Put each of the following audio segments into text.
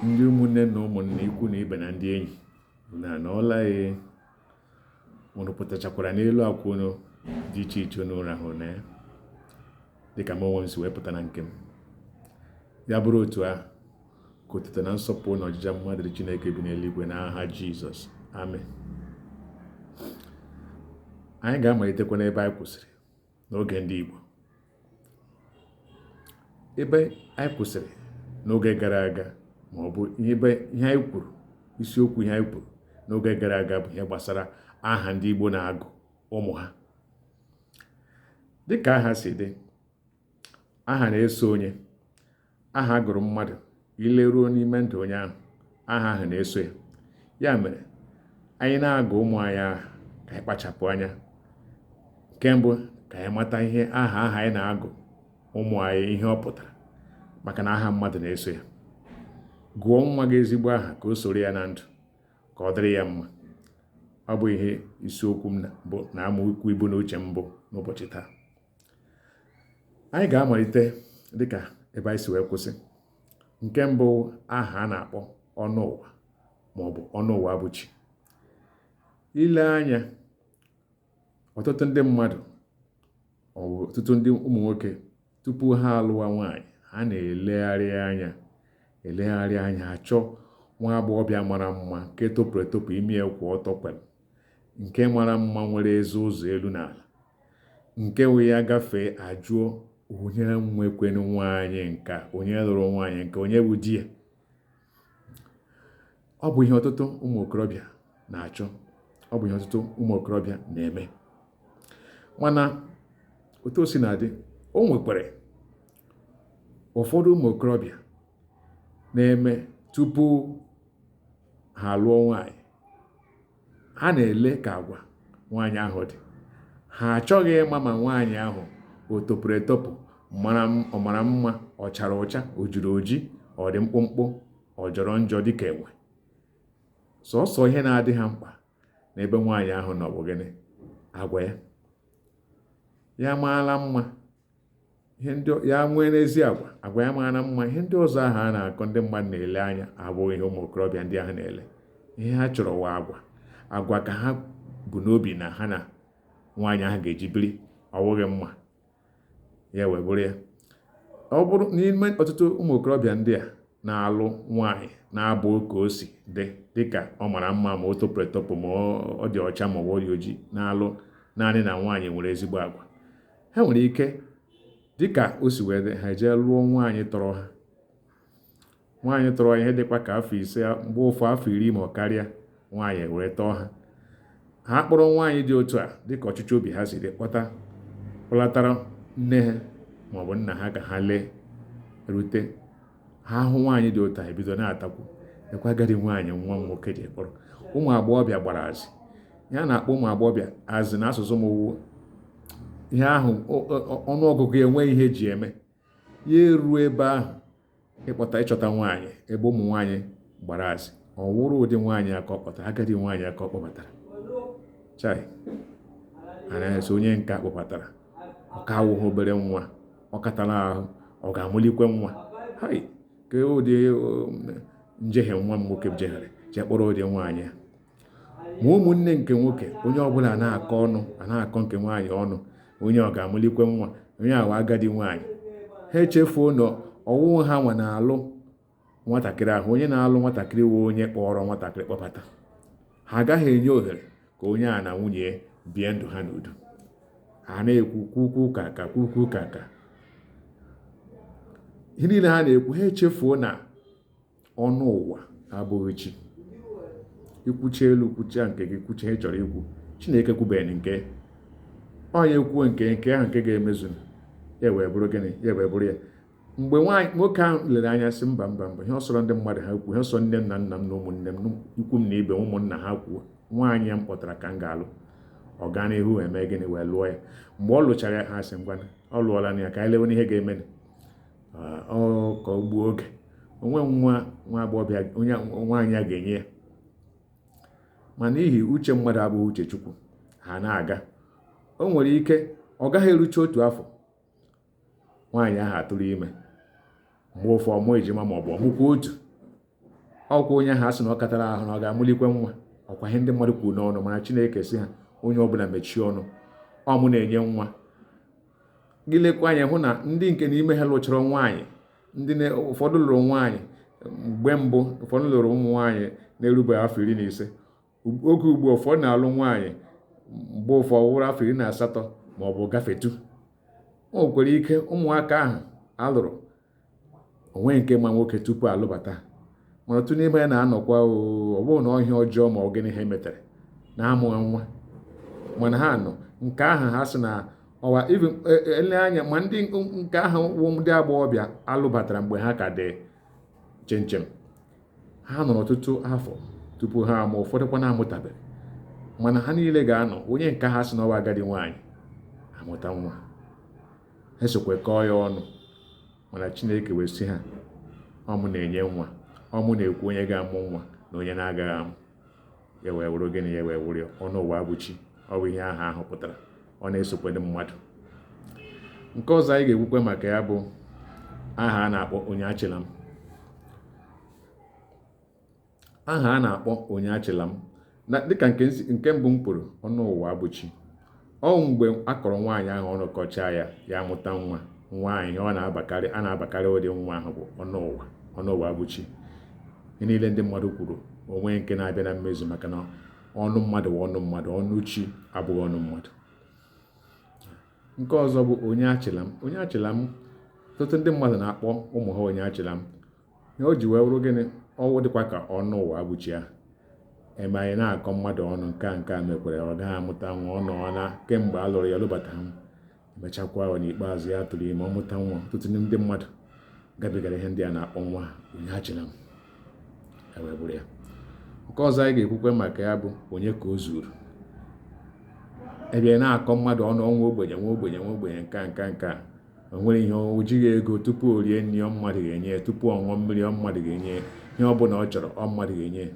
ndị ụmụnne na ụmụnna ikwu na ibe na ndị enyi unu anọọla unu pụtachakwara n'elu akwa unu dị iche iche unu rahụrụ na ya dịka m onwe m si wee pụta na nke m ya bụrụ otu ahụ ka otuto na nsọpụrụ na ọjịja mma dịrị Chineke bi n'eluigwe n'aha Jizọs amen anyị ga-amalitekwa n'ebe anyị kwụsịrị n'oge ndị Igbo ebe anyị kwụsịrị n'oge gara aga ma ọ bụ ebe ihe anyị kwuru isiokwu ihe anyị kwuru n'oge gara aga bụ ihe gbasara aha ndị Igbo na-agụ ụmụ ha dịka aha si dị aha na-eso onye aha a gụrụ mmadụ i leruo n'ime ndụ onye ahụ aha ahụ na-eso ya ya mere anyị na-agụ ụmụ anyị aha ka anyị kpachapụ anya nke mbụ ka anyị mata ihe aha aha anyị na-agụ ụmụ anyị ihe ọ pụtara maka na aha mmadụ na-eso ya gụọ nwa gị ezigbo aha ka o soro ya na ndụ ka ọ dịrị ya mma ọ bụ ihe isiokwu m bụ na amaokwu ibu n'uche m bụ n'ụbọchị taa anyị ga-amalite dịka ebe anyị si wee kwụsị nke mbụ aha a na-akpọ ọnụ ụwa ma ọ bụ ọnụ ụwa bụ chi i lee anya ọtụtụ ndị mmadụ ọtụtụ ndị ụmụ nwoke tupu ha alụwa nwaanyị ha na-elegharị anya elegharị anya achọ nwa agbọghọbịa mara mma nke topụrụ etopụ imi ya kwụ ọtọ kwem nke mara mma nwere eze ụzọ elu na ala nke wụ ya gafee ajụọ onye nwekwenu nwaanyị nka onye lụrụ nwaanyị nka onye bụ di ya ọ bụ ihe ọtụtụ ụmụ okorobịa na-achọ ọ bụ ihe ọtụtụ ụmụ okorobịa na-eme mana otu o si na-adị o nwekwara ụfọdụ ụmụ okorobịa na-eme tupu ha alụọ nwaanyị ha na-ele ka agwa nwaanyị ahụ dị ha achọghị ịma ma nwaanyị ahụ o topụrụ etopụ ọ mara mma ọ chara ụcha o jiri oji ọ dị mkpụmkpụ ọ jọrọ njọ dịka enwe sọsọ ihe na-adị ha mkpa n'ebe nwaanyị ahụ nọ bụ gịnị agwa ya ya maala mma ya nwere ezi agwa agwa ya mara mma ihe ndị ọzọ ahụ a na-akọ ndị mmadụ na-ele anya abụghị ihe ụmụ okorobịa ndị ahụ na-ele ihe ha chọrọ wụ agwa agwa ka ha bu n'obi na ha na nwaanyị ahụ ga-eji biri ọ bụghị mma ya wee bụrụ ya ọ bụrụ n'ime ọtụtụ ụmụ okorobịa ndị a na-alụ nwaanyị na-abụ ka o si dị dịka ọ mara mma ma o topụrụ etopụ ma ọ dị ọcha ma ọ dị ojii na-alụ naanị na nwaanyị nwere ezigbo agwa ha nwere ike dịka o si wee dị ha ejee lụọ nwaanyị tọrọ ha nwaanyị tọrọ ha ihe dịkwa ka afọ ise mgbe ụfọ afọ iri ma ọ karịa nwaanyị were tọọ ha ha kpọrọ nwaanyị dị otu a dịka ọchịchọ obi ha si dị kpọta kpọlatara nne ha maọbụ nna ha ka ha lee rute ha ahụ nwaanyị dị otu a ebido na-atakwu lekwa agadi nwaanyị nwa m nwoke ji kpọrọ ụmụ agbọghọbịa gbara azị ihe a na-akpọ ụmụ agbọghọbịa azị na asụsụ m wụ ihe ahụ ọnụọgụgụ enwe ihe ji eme ya eruo ebe ahụ ịkpọta ịchọta nwaanyị ebe ụmụ nwaanyị gbara azị ọ wụrụ ụdị nwaanyị a ka ọ kpọtara agadi nwaanyị a ka ọ kpọbatara chai anaghị asị onye nke a kpọbatara ọ ka awụghị obere nwa ọ katara ahụ ọ ga-amụlikwe nwa hai kee ụdị um, njehie nwa m nwoke jehiere jee kpọrọ ụdị nwaanyị a ma ụmụnne nke nwoke onye ọbụla na-akọ ọnụ a na-akọ nke nwaanyị ọnụ onye ọ ga-amụlikwe nwa onye a wụ agadi nwaanyị ha echefuo na ọ wụghị ha nwa na-alụ nwatakịrị ahụ onye na-alụ nwatakịrị wụ onye kpọrọ nwatakịrị kpọbata ha agaghị enye ohere ka onye a na nwunye bie ndụ ha n'udo ha na-ekwu kwukwu ka ka kwukwu ka ka ihe niile ha na-ekwu ha echefuo na ọnụ ụwa abụghị chi ikwuchi elu kwuchia nke gị kwuchie ihe ị chọrọ ikwu chineke ekwubeghị nke onye kwuo nke nke ahụ nke ga-emezu ya wee bụrụ gịnị ya wee bụrụ ya mgbe nwaanyị nwoke ahụ lere anya sị mba mba mba ihe ọ sọrọ ndị mmadụ ha kwuo ihe ọ sọ nne m na nna m na ụmụnne m ikwu m na ibe ụmụnna ha kwuo nwaanyị a m kpọtara ka m ga-alụ ọ gaa n'ihu eme gịnị wee lụọ ya mgbe ọ lụchara ya ha sị ngwa ọ lụọlanụ ya ka anyị lewenụ ihe ga-eme ọ ka o gbuo oge o nwe nwa nwa agbọghọbịa onye nwaanyị a ga-enye ya ma n'ihi uche mmadụ abụghị uche chukwu ha na-aga o nwere ike ọ gaghị erucha otu afọ nwaanyị ahụ atụrụ ime mgbe ụfọ ọ mụọ ejima ma ọ bụ ọ mụkwa otu ọ wụkwa onye ahụ a sị na ọ katara ahụ na ọ ga-amụlikwe nwa ọ kwa ihe ndị mmadụ kwuru n'ọnụ mana chineke sị ha onye ọbụla mechie ọnụ ọ mụ na-enye nwa gị lekwa anya hụ na ndị nke n'ime ha lụchara nwaanyị ndị ụfọdụ lụrụ nwaanyị mgbe mbụ ụfọdụ lụrụ ụmụ nwaanyị na-erubeghị afọ iri na ise oge ugbu ụfọ na-alụ nwaanyị mgbe ụfọ wụrụ afọ iri na asatọ ma ọ bụ gafetu o nwekwara ike ụmụaka ahụ a lụrụ o nweghị nke ma nwoke tupu a lụbata mana otu n'ime ha na-anọkwa ọ bụrụ na ọ ihe ọjọọ ma ọ gịnị ha metere na amụghị nwa mana ha nọ nke ahụ ha sị na ọwa e, e, ele anya ma ndị nke ahụ wụ ndị agbọghọbịa a lụbatara mgbe ha ka dị chinchin ha nọrọ ọtụtụ afọ tupu ha amụ ụfọdụkwa na-amụtabeghị mana ha niile ga-anọ onye nke ha sị na ọ wụ agadi nwaanyị amụta nwa ha sokwe kọọ ya ọnụ mana chineke wee sị ha ọ mụ na-enye nwa ọ mụ na-ekwu onye ga-amụ nwa na onye na-agaghị amụ ya wee wụrụ gịnị ya wee wụrụ ọnụ ụwa abụchi ọ bụ ihe aha ahụ pụtara ọ na-esokwe ndị mmadụ nke ọzọ anyị ga-ekwukwe maka ya bụ aha a na-akpọ onye achịla m aha a na-akpọ onye achịla m dịka nke mbụ m kwuru ọnụ ụwa abụchi ọ mgbe a kọrọ nwaanyị ahụ ọnụ kọchaa ya ya amụta nwa nwa ahụ ihe ọ na-abakarị a na-abakarị ụdị nwa ahụ bụ ọnụ ụwa ọnụ ụwa abụchi ihe niile ndị mmadụ kwuru o nweghị nke na-abịa na mmezu maka na ọnụ mmadụ bụ ọnụ mmadụ ọnụ chi abụghị ọnụ mmadụ nke ọzọ bụ onye achịla m onye achịla m ọtụtụ ndị mmadụ na-akpọ ụmụ ha onye achịla m ihe o ji wee wụrụ gịnị ọ wụ dịkwa ka ọnụ ụwa abụchi ahụ ebe anyị na-akọ mmadụ ọnụ nke a nke a mekwere ọ gaghị amụta nwa ọ nọọ na kemgbe a lụrụ ya lụbata m emechakwa ahụ n'ikpeazụ ya tụrụ ime ọ mụta nwa ọtụtụ ndị mmadụ gabigara ihe ndị a na-akpọ nwa onye achịla m ewee bụrụ ya nke ọzọ anyị ga-ekwukwe maka ya bụ onye ka o zuru ebe a na-akọ mmadụ ọnụ ọ nwa ogbenye nwa ogbenye nwa ogbenye nke a nke a nke a o nwere ihe o jighị ego tupu o rie nri ọ mmadụ ga-enye ya tupu ọ ṅụọ mmiri ọ mmadụ ga-enye ya ihe ọ bụla ọ chọrọ ọ mmadụ ga-enye ya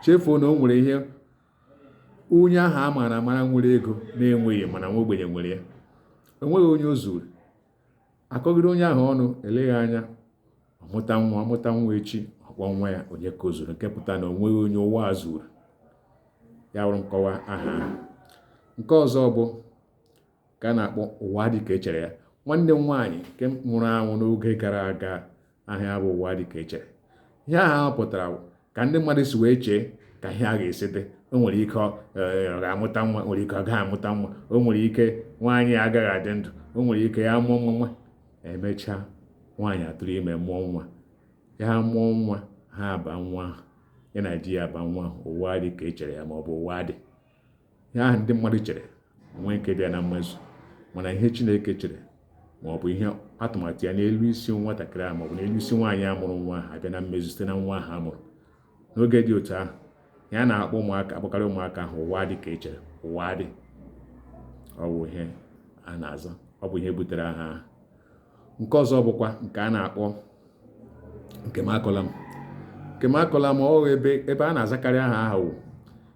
chefuo na o nwere ihe onye ahụ a maara amara nwere ego na-enweghị mana nwa ogbenye nwere ya o nweghị onye o zuru akọgide onye ahụ ọnụ eleghị anya ọ mụta nwa echi ọ kpọọ nwa ya onye ka o zuru nke pụta na o nweghị onye ụwa a zuru ya bụrụ nkọwa aha nke ọzọ bụ nke a na-akpọ ụwa dị ka echere ya nwanne m nwaanyị nke nwụrụ anwụ n'oge gara aga aha ya bụ ụwa dị ka echere ihe aha ahụ pụtara ka ndị mmadụ si wee chee ka ihe a ga-esi dị o nwere ike ọ eh, ga-amụta nwa nwere ike ọ gaghị amụta nwa o nwere ike nwaanyị agaghị adị ndụ o nwere ike ya mụọ nwa nwa emechaa nwaanyị atụrụ ime mụọ nwa ya mụọ nwa ha aba nwa ya na di ya aba nwa ụwa dị ka echere ya ma ọ bụ ụwa dị ihe ahụ ndị mmadụ chere o nweghị nke bịa na mmezu mana ihe chineke chere ma ọ bụ ihe atụmatụ ya n'elu isi nwatakịrị ahụ maọbụ n'elu isi nwaanyị a mụrụ nwa ahụ abịa na mmezu site na nwa ahụ a mụrụ n'oge dị otu ahụ ya na-akpọ ụmụaka akpọkarị ụmụaka ahụ ụwa dị ka echere ụwa dị ọ bụ ihe a na-aza ọ bụ ihe butere aha ahụ nke ọzọ bụkwa nke a na-akpọ nke m akọla m nke m akọla m ọ ebe ebe a na-azakarị aha ahụ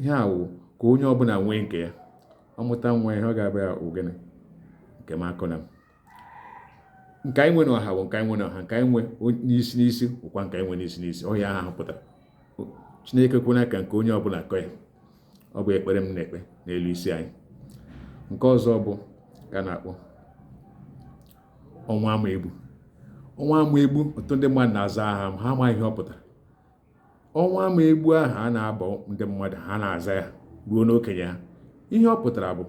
ihe a wụ ka onye ọbụla nwee nke ya ọ mụta nwa ihe ọ ga-aba ya ọ gịnị nke m akọna m nke anyị nwe na ọha bụ nke anyị nwe na ọha nke anyị nwe n'isi n'isi bụkwa nke anyị nwe n'isi n'isi ọ ihe ahụ pụtara chineke ekwena ka nke onye ọbụla kọ ya ọ bụ ekpere m na-ekpe n'elu isi anyị nke ọzọ bụ nke a na-akpọ ọnwụ ama egbu ọnwụ ama egbu ọtụtụ ndị mmadụ na-aza aha ma ha amaghị ihe ọ pụtara ọnwụ ama egbu ahụ a na-aba ndị mmadụ ha na-aza ya ruo n'okenye ha ihe ọ pụtara bụ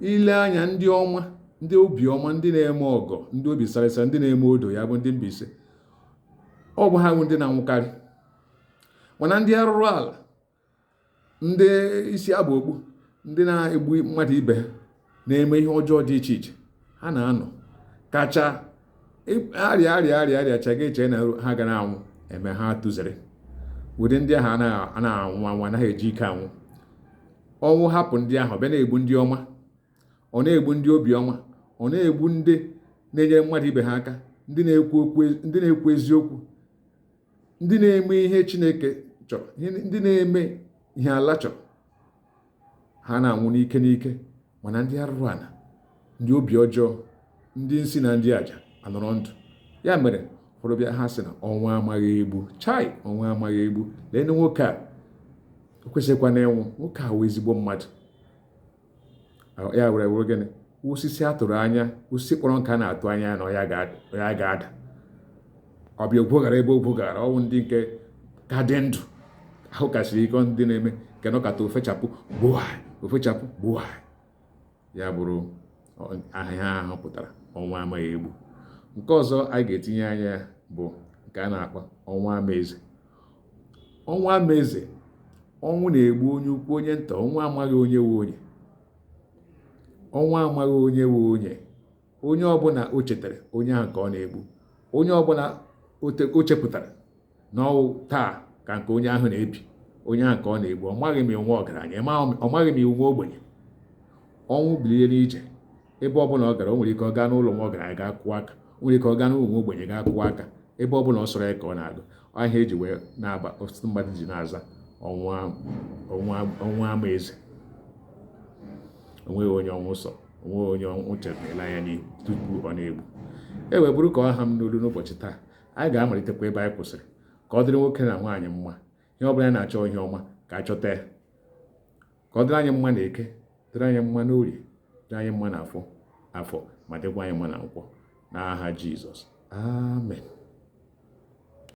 i lee anya ndị ọma ndị obi ọma ndị na-eme ọgọ ndị obi sara asa ndị na-eme udo ya bụ ndị Mbaise ọ bụ ha bụ ndị na-anwụkarị mana ndị arụrụ ala ndị isi aba okpu ndị na-egbu mmadụ ibe ha na-eme ihe ọjọọ dị iche iche ha na-anọ kacha arịa arịa arịa arịa chega eche na ha ga na-anwụ eme ha tụzere ụdị ndị ahụ anaghị anwụ anwụ anaghị eji ike anwụ ọnwụ hapụ ndị ahụ bịa na-egbu ndị ọma ọ na-egbu ndị obi ọma ọ na-egbu ndị na-enyere mmadụ ibe ha aka ndị na-ekwu eziokwu ndị na-eme ihe chineke chọrọ ndị na-eme ihe ala chọrọ ha na-anwụ n'ike n'ike mana ndị arụrụ ala ndị obi ọjọọ ndị nsi na ndị aja anọrọ ndụ ya mere ụfọdụ ba ya aha sị na ọnwụ amaghị egbu chai ọnwụ amaghị egbu lee nwoke a o kwesịkwa na ịnwụ nwoke a wụ ezigbo mmadụ ya were wụrụ gịnị osisi a tụrụ anya osisi kpọrọ nkụ a na-atụ anya na ya ga-ada ọ bịa ogwo gara ebe ogwo gara ọ wụ ndị nke ka dị ndụ ahụ kasịrị ike ndị na-eme nke nọkata o fechapụ gbuwa o fechapụ gbuwa ya bụrụ ihe aha ahụ pụtara ọnwụ amaghị egbu nke ọzọ anyị ga-etinye anya bụ nke a na-akpọ ọnwụ amaeze ọnwụ amaeze ọnwụ na-egbu onye ukwu onye nta ọnwụ amaghị onye wụ onye ọnwụ amaghị onye wụ onye onye ọbụla o chetara onye ahụ ka ọ na-egbu onye ọbụla o chepụtara na ọ wụ taa ka nke onye ahụ na-ebi onye ahụ ka ọ na-egbu ọ maghị ma ọ nwa ọgaranya ọ maghị ma ọ nwa ogbenye ọnwụ bilie n'ije ebe ọ bụla ọ gara o nwere ike ọ gaa n'ụlọ nwa ọgaranya gaa kụọ aka o nwere ike ọ gaa n'ụlọ nwa ogbenye gaa kụọ aka ebe ọ bụla ọ sọrọ ya ka ọ na-aga ọ ihe e ji wee na-aba ọtụtụ mmadụ ji na-aza ọnwụ ama eze onweghị onye ọnwụ sọ onweghị onye ọnwụ chetara anya n'ihu tupu ọ na-egbu e wee bụrụ ka ọ ha m n'olu n'ụbọchị taa anyị ga-amalitekwa ebe anyị kwụsịrị ka ọ dịrị nwoke na nwaanyị mma ihe ọ bụla anyị na-achọ ihe ọma ka a chọta ya ka ọ dịrị anyị mma na eke dịrị anyị mma na orie dịrị anyị mma na afọ afọ ma dịkwa anyị mma na nkwọ n'aha Jizọs amen